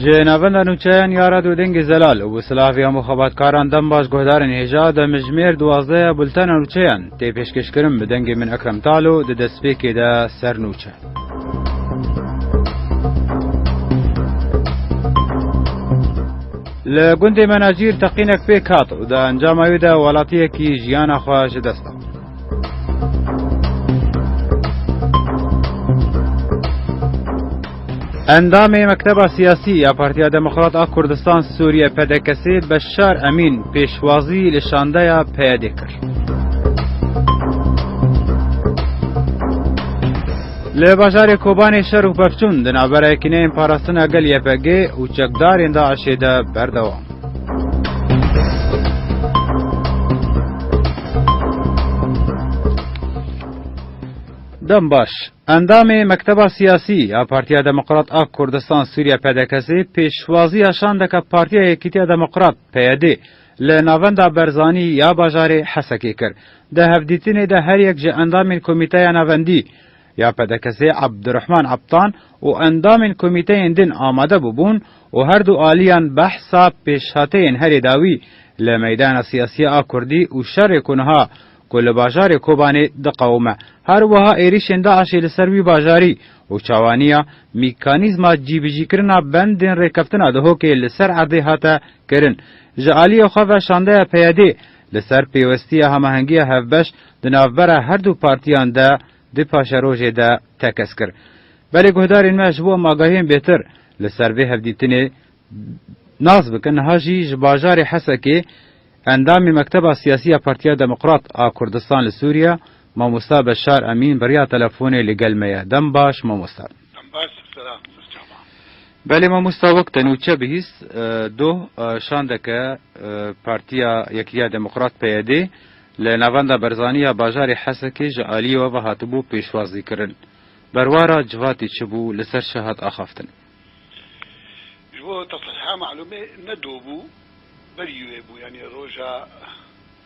Ji navenda nûçeyan ya Rado Dengê Zelal û bi silah vêya muxabatkaran dem baş guhdarên hêja demijmêr duwazdeh ya bultena nûçeyan tê pêşkêşkirin bi dengê min Ekrem Talo di destpêkê de ser nûçe. Li gundê Menacîr teqînek pêk hat û di encama wê de welatiyekî jiyana xwe ji dest da. Endamê Mekteba Siyasî ya Partiya Demokrat a Kurdistan Sûriyê, PDKSê, Beşar Emîn pêşwazî li şandeya PYDê kir. Li bajarê Kobanê şer û pevçûn di navbera Yekîneyên Parastina Gel YPGê û çekdarên DAIŞ'ê de berdewam. Dem baş. Endamê Mekteba Siyasî ya Partiya Demokrat a Kurdistan Sûriye PDK'sê pêşwaziya şandeke Partiya Yekîtiya Demokrat PYD li Navenda Berzanî ya bajarê Hesekê kir. Di hevdîtinê de her yek ji endamên Komîteya Navendî, ya PDKS'ê Abdurehman Aptan û endamên komîteyên din amade bûbûn û her du aliyan behsa pêşhateyên herê dawî li meydana siyasiya a kurdî û şerê ku niha ku li bajarê Kobanê diqewime her wiha êrîşên DAIŞ'ê li ser wî bajarî û çawaniya mîkanîzma cîbicîkirina bendên rêkeftina Duhokê li ser erdê hate kirin ji aliyê xwe ve şandeya PYD'ê li ser pêwestiya hemahengiya hevbeş di navbera her du partiyan de Di paşerojê de tekez kir. Belê guhdarên me ji bo em agahiyên bêtir li ser vê hevdîtinê nas bikin niha jî ji bajarê Hesekê endamê Mekteba Siyasî ya Partiya Demokrat a Kurdistan li Sûriye Mamosta Beşar Emîn bi riya telefonê li gel me ye. Dem baş mamosta. Em baş ji sera birçav a. Belê mamosta wek te nûçe bihîst doh şandeke Partiya Yekîtiya Demokrat, PYD, li Navenda Berzanî ya bajarê Hesekê ji aliyê we ve hatibû pêşwazîkirin. Berwara civatê çi bû li ser çi hat axaftin? Ji bo te sehîha malûmê ne doh bû berî wê bû yanî roja.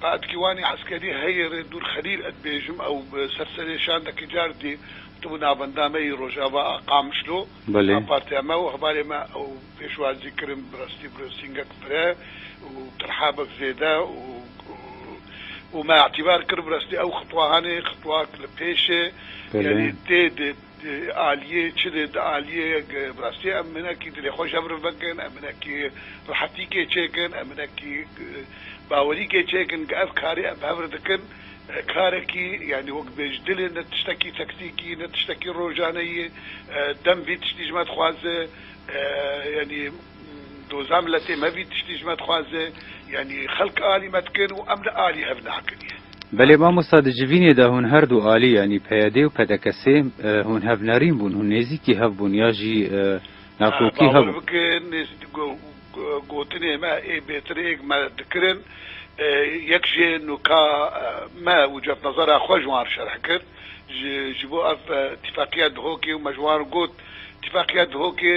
Pehedkiwanê eskerî heye rê dûr Xelîl et bêjim ew bi ser serê şandekî car dî tu bi navenda me yî Rojava a Qamişlo a partiya me û hevalê me ew pêşwazî kirin bi rastî brosîngek pire û tirhabek zêde û me etîbar kir bi rastî ew xitwahanê xitwak li pêşê yanî tê dê Di aliyê çi de di aliyê bi rastî em hinekî dilê xwe jevr vekin, em hinekî rehetîkê çêkin, em hinekî bawerîkê çêkin ke ev karê em bi hev re dikin karekî yanî wek bêj dil e ne tiştekî tektîkî ne tiştekî rojaneyî dem vî tiştî ji me dixwaze yanî Doza miletê me vî tiştî ji me dixwaze, yanî xelk alî me dikin û em li alî hev nakin ye. Belê mamosta di civînê de hûn her du alî yanî PYD û PDKSê hûn hev nerîn bûn, hûn nêzîkî hev bûn ya jî nakokî hebûn. Bawer bikin nêzîkî gotinê me ê bêtir êk me dikirin, yek jê nuka me û cotnazara xwe ji wan şerh kir. Ji bo ev tîfaqiya Dihokê û me ji wan got, tîfaqiya Dihokê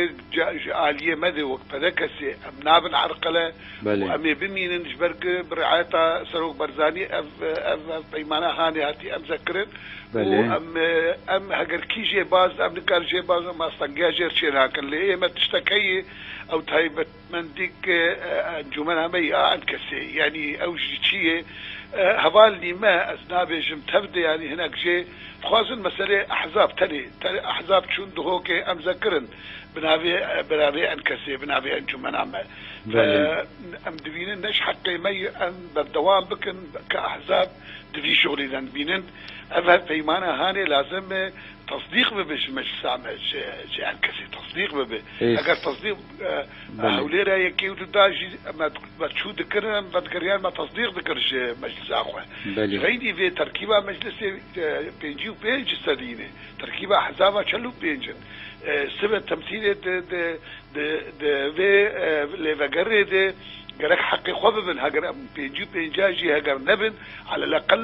ji aliyê me de wek pede kesê em nabin erqele û em ê bimînin ji ber ku bi riayeta Serok Barzanî ev peymana hanê hatî emzekirin û em em heger kî jê baz em nikarin jê baz em astangiya jê re çênakin lê ê me tiştekeyê ew taybet Mendik e encûmena me ya em kesê yanî ew jî çi yê heval nîme ez nabêjim tev de yanî hinek jê dixwazin meselê ehzab tenê tenê ehzab çûn dihokê em zekirin bi navê bi navê en kesê bi navê encûmena me ve em dibînin ne ji heqê me ye em berdewam bikin ka ehzab di vî şolî de dibînin ev hevpeymana hanê lazim e tasdîq bibe ji meclisa me ji ji en kesê tasdîq bibe eger tasdîq. Hewlêra yekê û du da jî me berçû dikir, em vedigeriyane me tesdîq dikir ji meclisa xwe. Ji heynî vê terkîba meclisê pêncî û pênc ji sedî ne terkîba hezaba çel û pênc in. Sibe temsîlê di vê lêvegerê de gerek heqê xwe bibin, heger em pêncî û pêncî jî heger nebin, aleleqel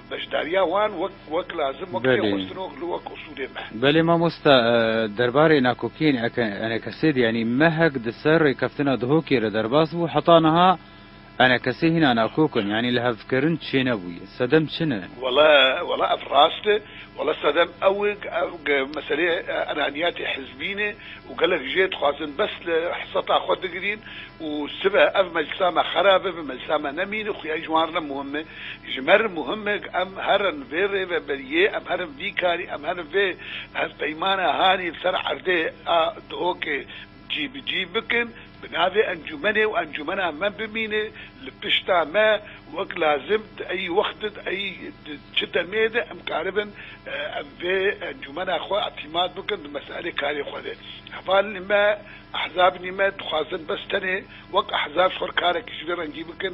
Beşdariya wan wek wek lazim wek tê xwestin û li wek usulê me. Belê mamosta derbarê nakokiyên enekesê de yanî mehek di ser rêkeftina Duhokê de derbas bû heta niha enekesê hîna nakok in yanî li hevkirin çênebûye. Sedem çi ne? Wele wele ev rast e. Wele sedem ew e ku meseleyê enaniyatê hizbî ne û gelek jê dixwazin bes li hiseta xwe digirîn û sibe ev meclisa me xerab e bi meclisa me nemîne xuya jwan re muhim e. Ji me re muhim e ku em herin vê rêveberiyê, em herin vî karî, em herin vê hevpeymana hanî li ser erdê a Duhokê cî bi cî bikin, bi navê encûmenê û encûmena me bimîne li pişta me wek lazim di eyî wextê di eyî di çi demê de em karibin em vê encûmena xwe îtîmat bikin di meselê karê xwe de. Hevalên me, ehzabinî me dixwazin bes tenê wek ehzab ji xwe re karekî ji vê rengî bikin,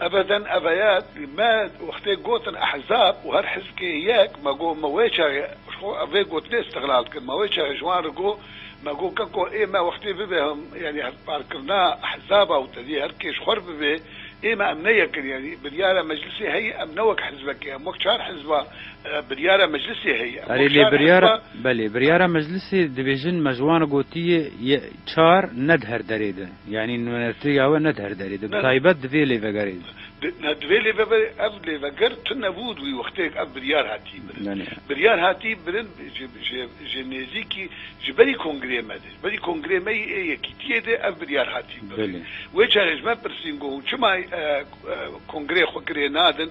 Ebeden eveyet me wextê gotin ehzab û her hizbkê yek me got me wê çaxê ji xwe vê gotinê istiqlal dikin me wê çaxê ji wan re got me got keko ê me wextê bibe yanî hevparkirina ehzaba û tevî her kê ji xwe re bibe ê me em ne yek in yanî biryara meclisê heye em ne wek hizbekê em wek çar hizba biryara meclisê heye em wek çar hizba. Belê biryara meclisê dibêjin me ji wan re gotiye ye çar ne di her derê de. Yanî nûnertiya we ne di her derê de, bi taybet di vê lêvegerê de. Ne, di vê lêvegerê, ev lêveger tune bû wî wexteyek ev biryar hatî birin. Biryar hatî birin ji nêzîkî ji berî kongreyê me de, ji berî kongreyê me yê Yekîtiyê de ev biryar hatî birin. Wê çare ji me pirsîn ku hûn çima kongreyê xwe kirê nadin?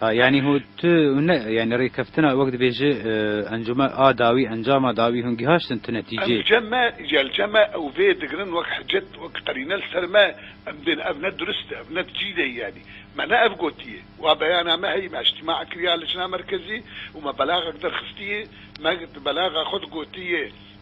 Ha yanî hû tu hûn ne yanî rêkeftina wek dibêji encûme a dawî encama dawî hûn gîhaştin tu netîcê. Emce me gelce me ew vê digirin wek hicet wek qerîne li ser me em dên ev ne durist e ev ne dicî de yanî me ne ev gotiyê wa beyana me heyî me îctîmaa kiriya licna merkezî û me belaxek derxistiyê me di belaxa xwe de gotiyê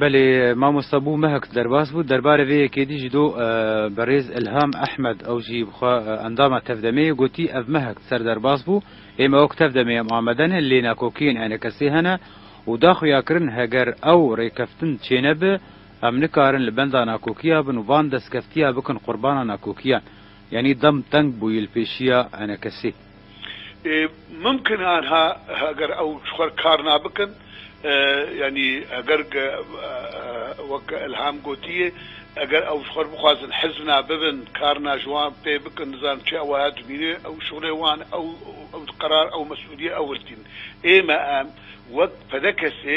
Belê mamosta bû mehek derbas bû. Derbarê vê yekê dî ji do berêz Îlham Ehmed ew jî bixwe endama tevdemê ye gotî ev mehek ser derbas bû ê me wek tevdemê em amade ne lê nakokiyên enekesê hene û da xuyakirin heger ew rêkeftin çênebe em nikarin li benda nakokiya bin û van destkeftiya bikin qurbana nakokiyan yanî dem teng bûyî li pêşiya enekesê. Ê mumkin e anha heger ew ji xwe kar nabikin yanî heger wek Elham gotiye heger ew ji xwe re bixwazin hizb na bibin kar na ji wan pê bikin nizanim çi ew wiha dimîne ew şixulê wan e ew qerar ew mesûliyê ew girtîn ê me em wek pdkesê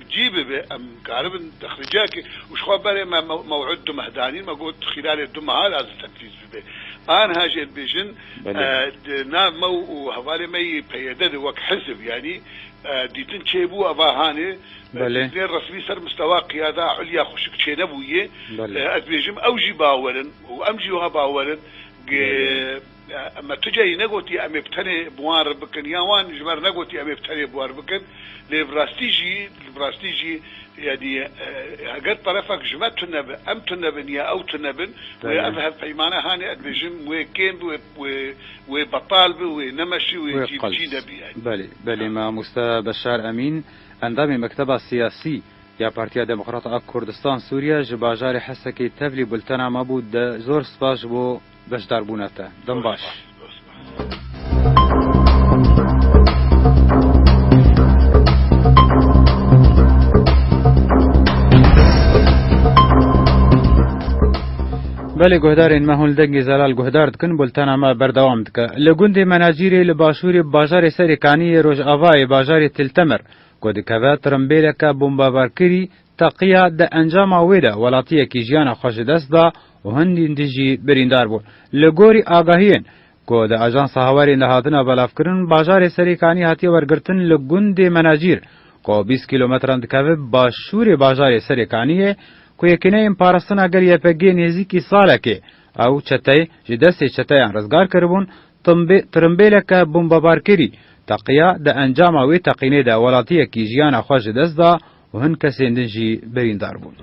Cî bibe em karibin texlîciyekê û ji xwe berê me mewîd du meh danîn me got xîlalê du mehan ez li teflîc bibe. Anha jê dibêjin di nav me û hevalê me yê PYD de wek hizb yanî dîtin çêbû eva hanê dîtinê resmî ser mistewa qiyada ulya xwişik çênebûyê ez dibêjim ew jî bawer in û em jî wiha bawer in gê Me tu carî negotî em ê bi tenê bi wan re bikin yan wan ji ber negotî em ê bi tenê bi wan re bikin lê bi rastî jî bi rastî jî yanî heger terefek ji me tune be em tune bin ya ew tune bin wê ev hevpeymane hanê ez bêjim wê kêm bi wê wê wê betal bi wê nemeşî wê cî bi cî nebi yanî. Belê belê mamoste Beşar Emîn endamê mekteba siyasî ya Partiya Demokrata a Kurdistan Sûriye ji bajarê Hesekê tevlî bultena me bû zor spas ji bo. Beşdarbûna te dem baş. Belê guhdarên me hûn li dengê zelal guhdar dikin bultena me berdewam dike. Li gundê Menacîrê li başûrê bajarê Serê Kaniyê Rojavayê bajarê Til Temer ku dikeve tirimbêleke bombebarkirî Taqiya di encama wê de welatiyekî jiyana xwe ji dest da û hindîn din jî birîndar bûn. Li gorî agahiyên ku di Ajansa Hawerên de hatine belavkirin, bajarê Serê Kanî hatiye wergirtin li gundê Menacîr ku bîst kîlometran dikeve başûrê bajarê Serê Kaniyê ku yekîneyên parastina gel YPG'ê nêzîkî salekê ew çeteyê ji destê çeteyan rizgar kiribûn, tirimbêleke bombebarkerî taqiya di encama wê teqînê de welatiyekî jiyana xwe ji dest da. û hin kesên din jî birîndar bûn.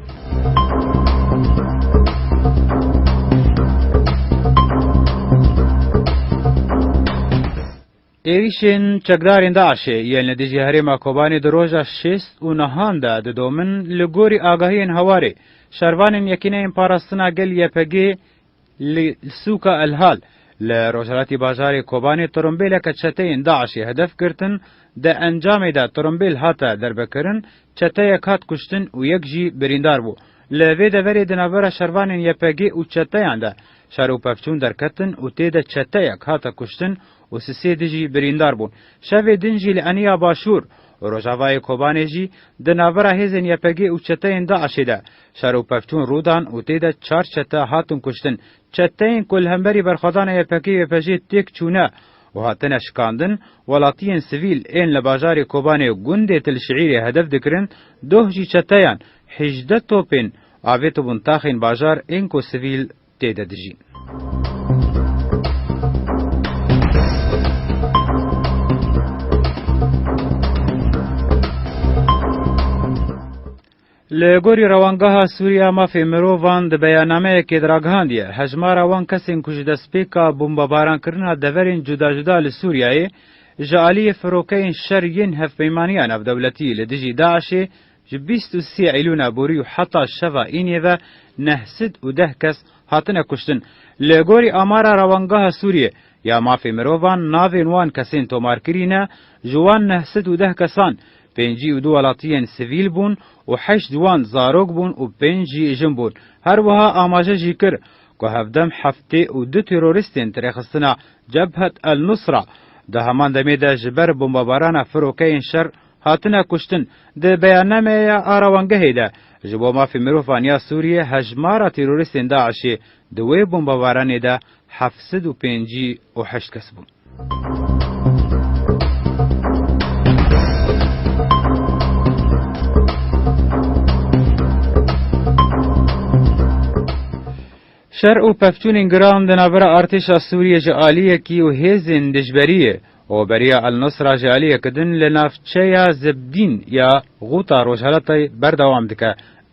Êrîşên çekdarên DAIŞ'ê yên li dijî herêma Kobanê di roja şêst û nehan de didomin, li gorî agahiyên hawarê, şervanên Yekîneyên Parastina Gel, YPG, Li sûka El Hal li rojhilatî bajarê Kobanê torombêleke çeteyên DAIŞ'ê hedef girtin, di encamê de torombêl hate derbekirin, çeteyek hat kuştin û yek jî birîndar bû. Li vê deverê di navbera şervanên YPG û çeteyan de şer û pevçûn derketin û tê de çeteyek hate kuştin û si sê di jî birîndar bûn. Şevê din jî li Eniya Başûr û Rojavayê Kobanê jî di navbera hêzên YPG û çeteyên DAIŞ'ê de Şaro Pevçûn rû dan û tê de çar çete hatin kuştin. Çeteyên ku li hemberî berxwedana YPKYPJê têk çûne û hatine şikandin, welatiyên sivîl ên li bajarê Kobanê û gundê Til Şiîrê hedef dikirin, doh jî çeteyan hejdeh topên avêtibûn taxên bajar ên ku sivîl tê de dijîn. Li gorî Rewangeha Sûrî a Mafê Mirovan di beyanameyekê de ragihandiye, hejmara wan kesên ku ji destpêka bombebarankrina deverên cuda cuda li Sûriyeyê ji aliyê firokeyên şer yên hevpeymaniya navdewletî li dijî DAIŞ'ê ji bîst û sê Eylûna borî û heta şeva înê ve neh sed û deh kes hatine kuştin. Li gorî amara Rewangeha Sûrî ya Mafê Mirovan navên wan kesên tomarkirî ne, ji wan neh sed û deh kesan, Pêncî û du welatiyên sivîl bûn û heşt ji wan zarok bûn û pênc jî jin bûn. Her wiha amaje jî kir ku hevdem heftê û du terorîstên tirêxistina Cebhet El Nusra di heman demê de ji ber bombebarana firokeyên şer hatine kuştin. Di beyannameya arawangehê de ji bo mafê mirovan ya Sûriyê hejmara terorîstên DAIŞ'ê di wê bombebaranê de heft sed û pêncî û heşt kes bûn. Şer û pevçûnên giran di navbera artêşa Sûriyê ji aliyekî û hêzên dijberiyê û beriya El-Nusra ji aliyekî din li navçeya Zibdîn ya Gûta Rojhelatê berdewam dike.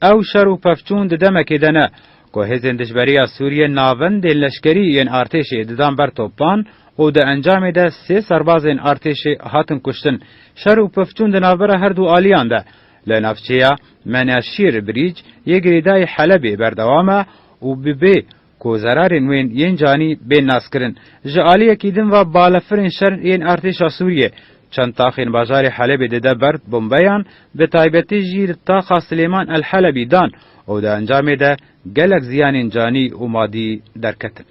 Ew şer û pevçûn di demekê de ne Ku hêzên dijberî ya Sûriyê navendên leşkerî yên artêşê didan ber topan û di encamê de sê serbazên artêşê hatin kuştin. Şer û pifçûn di navbera her du aliyan de li navçeya Meneşîr Birîc yê girêdayî Helebê berdewam e û bi bê ku zerarên wên yên canî bên naskirin. Ji aliyekî din ve balefirên şer yên artêşa Sûriyê çend taxên bajarê Helebê dide ber bombeyan, bi taybetî jî li taxa Silêman El Helebî dan. Û di encamê de gelek ziyanên canî û madî derketin.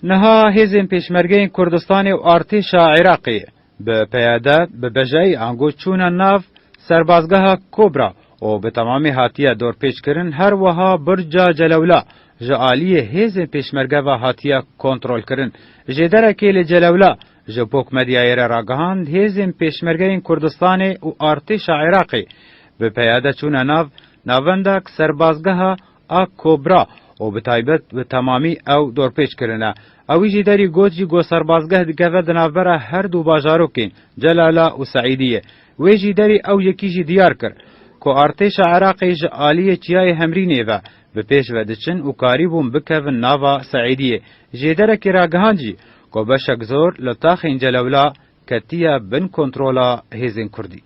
Niha hêzên Pêşmergeyên Kurdistanê û Artêşa Iraqê bi PYD bi bejayî ango çûne nav serbazgeha Kobra û bi temamî hatiye dorpêçkirin her wiha Burca Celewla ji aliyê hêzên Pêşmerge ve hatiye kontrolkirin. Jêderekê li Celewla Ji Pok Medyayê re ragihand, hêzên Pêşmergeyên Kurdistanê û Artêşa Iraqê bi peyade çûne nav navenda ku serbazgeha a Kobra û bi taybet bi temamî ew dorpêç kirine. Ew wî jî derî got jî ku serbazgeh dikeve di navbera her du bajarokên Celala û Seîdiyê. Wê jî derî ew yekî jî diyar kir ku Artêşa Iraqê ji aliyê Çiyayê Hemrînê ve bi pêş ve diçin û karî bûn bikevin nava Seîdiyê. Jêderekî ragihand jî Ku beşek zor li taxên Celewla ketiye bin kontrola hêzên Kurdî.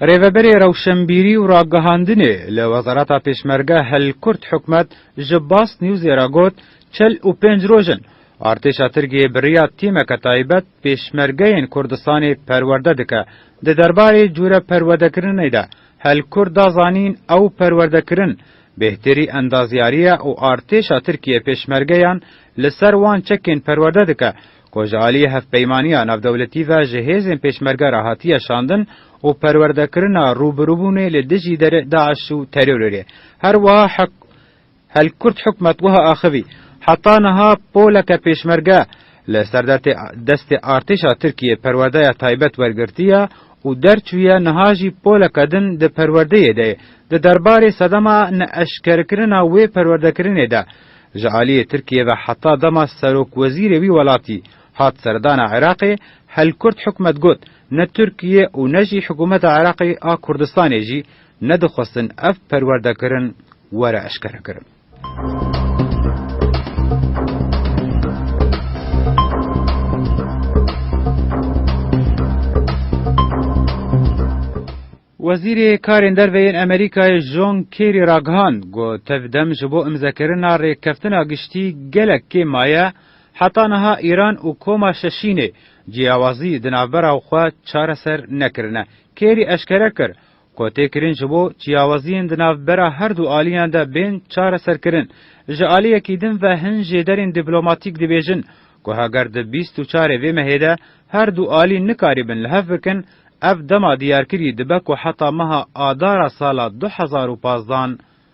Rêveberê Rewşenbîrî û Ragihandinê li Wezareta Pêşmerge Hilkurt Hikmet ji Bast Newsê re got, Çel û pênc roj in Artêşa Tirkiyê bi riya tîmeke taybet Pêşmergeyên Kurdistanê perwerde dike. Di derbarê cûre perwedekirinê de Helkur da zanîn ew perwerdekirin bêhterî endaziyarî ye û artêşa Tirkiyê pêşmergeyan li ser wan çekên perwerde dike ku ji aliyê hevpeymaniya navdewletî ve ji hêzên pêşmerge re hatiye şandin û perwerdekirina rûbirûbûnê li dijî DAIŞ û terorê. Her wiha Hel kurt hikûmet wiha axivî, Heta niha poleke pêşmerge li serdetê destê artêşa Tirkiyê perwerdeya taybet wergirtiye û derçûye niha jî poleke din di perwerdeyê de ye. Di derbarê sedema neeşkerkirina wê perwerdekirinê de ji aliyê Tirkiyê ve heta dema serokwezîrê wî welatî hat serdana Iraqê, Hel kurt hikûmet got, Ne Tirkiyê û ne jî hikûmeta Iraqê a Kurdistanê jî Nedixwestin ev perwerdekirin were eşkerekirin. Wezîrê Karên Derve yên Amerîkayê John Kerry ragihand ku tevdem ji bo imzekirina rêkeftina giştî gelek kêm maye, heta niha Îran û Koma Şeşînê ciyawazî di navbera xwe çareser nekirine. Kerry eşkere kir, ku tê kirin ji bo çiyawaziyên di nav bera her du aliyan de bên çareserkirin. Ji aliyekî din ve hin jêderên dîplomatîk dibêjin ku heger di bîst û çarê vê mehê de her du alî nikarîbin li hev bikin, ev dema diyarkirî dibe ku heta meha adara sala du hezar û pazdeh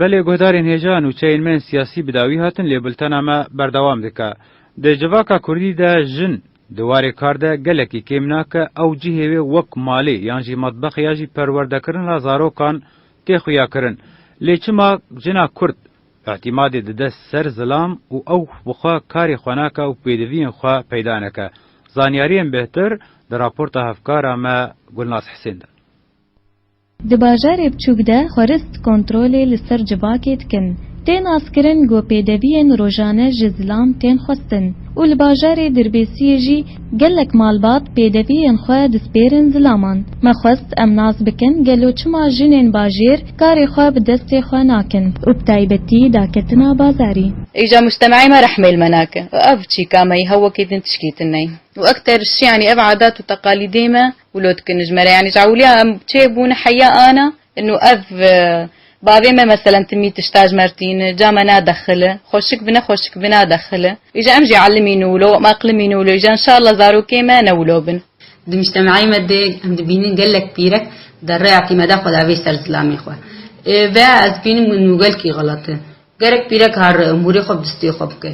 Belê guhdarên hêja nûçeyên me yên siyasî bi dawî hatin lê bultena me berdewam dike. Di civaka kurdî de jin di warê kar de gelekî kêm nake ew cihê wê wek malê yan jî metbex ya jî perwerdekirina zarokan tê xuyakirin. Lê çima jina kurd îtîmadê dide ser zilam û ew bi xwe karê xwe nake û pêdiviyên xwe peyda neke? Zanyariyên bêhtir di raporta hevkara me Gulnaz Hisên de. Di bajarê biçûk de xwerist kontrolê li ser civakê dikin. Tê naskirin ku pêdeviyên rojane ji zilam tên xwestin û li bajarê Dirbêsiyê jî gelek malbat pêdeviyên xwe dispêrin zilaman. Me xwest em nas bikin gelo çima jinên bajêr karê xwe bi destê xwe nakin û bi taybetî daketina bazarî. Îja mujtemeyê me rehmê li me nake û ev çîka me yî hew wekî din tişkî tune ye û ekter ji yanî ev adat û teqalîdê me, Wlot ki nijmere yanî ji ewliya em çê bûn heya ana inu ev bavê me meselen timî tişta ji mer tîni ca me na dexili xweşik bine xweşik bina dexili îja em jî elimîn û wlo em eqlimîn û wlo îja inşallah zarokê me ne wlo bin. Di mujtemeyê me de em dibînin gelek pîrek di rêya tîmeda xwe de vê ser zilamê xwe ve ez bînim inu gelkî xelat e. Gerek pîrek har hûrê xwe bi distê xwe bike.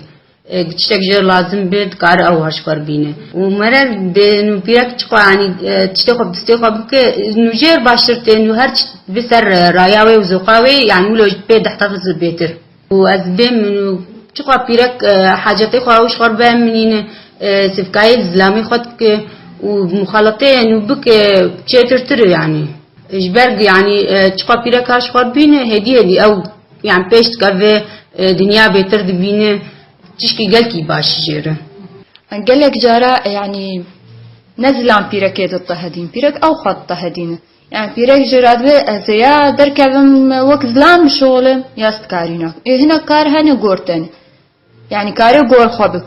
Tiştek ji we lazim be dikare ew haşkar bîne û mere dê nû pîrek çi xwe anî tiştê xwe bi distê xwe bike nû jêr baştir tê nû her çi bi ser raya wê û zoqa wê yanî wilo ji pê deh tefs bi bêtir û ez bêm min û çi xwe pîrek hacetê xwe ew ji xwe re bimînîne sivkayê li zilamê xwe dike û muxaleteyê nû bike çêtirtir e yanî ji ber yanî çi xwe pîrek ha ji xwe re bîne hêdî hêdî ew Yan pêş dika vê dinya bêtir dibîne tişkî gelkî baş jê re. Gelek cara yanî ne zilam pîrekê ditehedîn. Pîrek ew xwe ditehedîne. Yani pîrek jê re dibe ez ê ya derkevim wek zilam bişolim ya stkarîna. Ê hinek kar hene gor tenê. Yani karê gor xwe bik.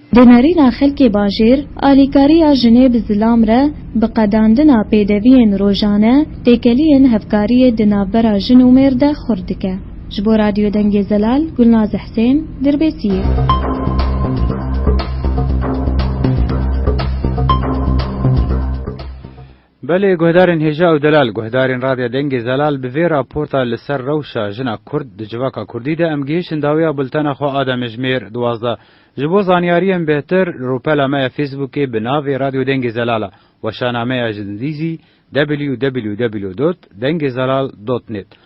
Di nêrîna xelkê bajêr, alîkariya jinê bi zilam re, bi qedandina pêdeviyên rojane, têkeliyên hevkariyê di navbera jin û mêr de xurt dike. Ji bo Radyo Dengê Zelal, Gulnaz Husên, Dirbêsiyê. Belê guhdarên hêja û delal, guhdarên Radya Dengê Zelal bi vê raporta li ser rewşa jina kurd di civaka kurdî de em gihîşin dawiya bultena xwe a demêjmêr duwazdeh. Ji bo zanyariyên bêhtir li rûpela me ya Fêsbûkê bi navê Radyo Dengê Zelal a, weşanameya ji dizî www dot dengezalal dot net,